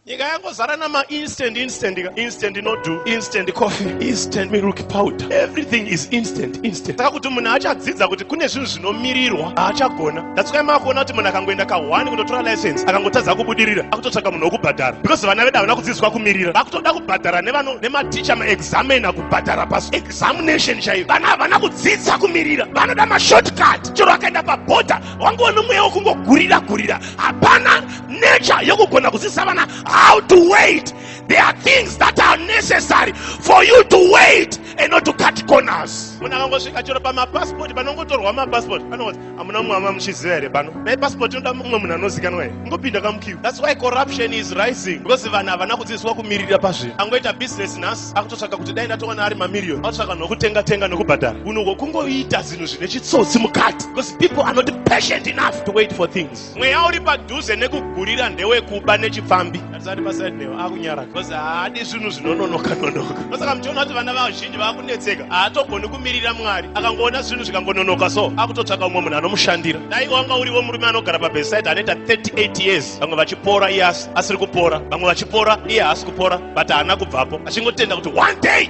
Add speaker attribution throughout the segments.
Speaker 1: nyika yangozara nama instant instant instant nodu instant coffee instant milk powder everything is instant instant saka kuti munhu achadzidza kuti kune zvinhu zvinomirirwa haachagona datsukai maakuona kuti munhu akangoenda kahwani kundotora license akangotadza kubudirira akutotsvaga munhu wokubhadhara because vana vedu havana kudzidziswa kumirira vakutoda kubhadhara nevano nematicha maexamina kubhadhara pas examination chaiyo vana havana kudzidza kumirira vanoda mashortcut chero akaenda paboda wangoona mweya wokungogurira gurira hapana nature yokugona kudzidzisa vana how to wait there are things that are necessary for you to wait and not to cut corners munhu akangosvika chero pamapasipoti panongotorwa mapasipoti anoti hamuna mumwe ama muchiziva here pano dai pasipoti inoda mumwe munhu anozikanwa here ingopinda kamukiu thats why corruption is rising because vanhu havana kudzidziswa kumiririra pazvinhu angoita business nhasi akutotsvaga kuti dai ndatowana ari mamiriyoni akutotsvaga nokutenga tenga nokubhadhara unhu hwokungoita zvinhu zvine chitsotsi mukati because people are not patient enough to wait for things mweya uri padhuze nekugurira ndewekuba nechipfambi atisati paside newe akunyara bcause haadi zvinhu zvinononoka nonoka ndosaka muchiona kuti vana vazhinji vakunetseka haatogoni kumirira mwari akangoona zvinhu zvikangononoka so akutotsvaka umwe munhu anomushandira dai wanga uriwo murume anogara pabeside anoita 38 years vamwe vachipora iye asiri kupora vamwe vachipora iye haasi kupora but haana kubvapo achingotenda kuti one day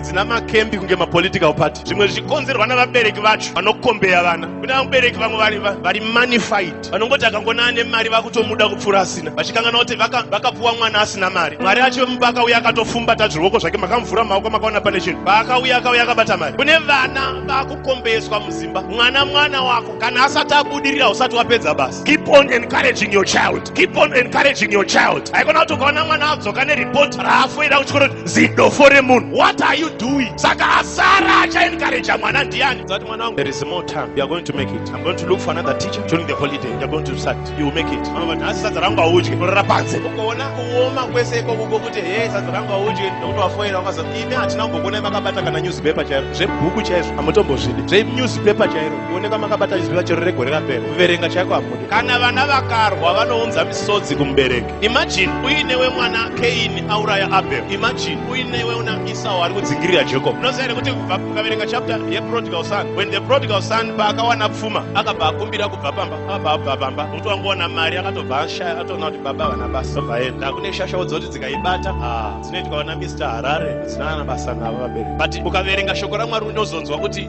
Speaker 1: dzina makembi kunge mapolitical party zvimwe zvichikonzerwa navabereki vacho vanokombeya vana kune vabereki vamwe vari, vari manified vanongoti akangona ane mari vakutomuda kupfuura asina vachikangana kuti vakapuwa mwana asina mari mwari acho vemumba akauya akatofumbata zviruoko zvake makamvura maoko makaona pane chinhu paakauya akauya akabata mari kune vana vakukombeyeswa muzimba mwana mwana wako kana asati abudirira usati wapedza basa keep on encouraging your child keep on encouraging your child haikona kuti ukaona mwana adzoka neripoti raafoira kuchikoro zidofo remunhu what are you doing saka asara achaencouraja mwana ndiani zati mwana wangu there is more time you are going to make it i'm going to look for another teacher during the holiday you are going to start you will make it mama vati asi sadza rangu audye kurara panze ukaona kuoma kwese ikoko kokuti he sadza rangu audye nokuti wafoira ukaza imi hatina kumbokuonai makabata kana newspaper chairo zvebhuku chaizvo hamutombozvidi zvenewspaper chairo kuoneka makabata newspaper chero regore rapera kuverenga chaiko hamudi kana vana vakarwa vanounza misodzi kumubereki Imagine uinewe mwana Cain auraya Abel. Imagine uinewe una Esau ari kudzingirira Jacob. Unoziva here kuti kubva ukaverenga chapter yeprodigal son when the prodigal son paakawana pfuma akabva akumbira kubva pamba akabva abva pamba nokuti wangoona mari akatobva ashaya atoona kuti baba vana basa tobva enda kune shasha wodziva kuti dzikaibata ah, dzinoitwa vana Mr Harare dzina vana basa navo vabereki but ukaverenga shoko raMwari unozonzwa kuti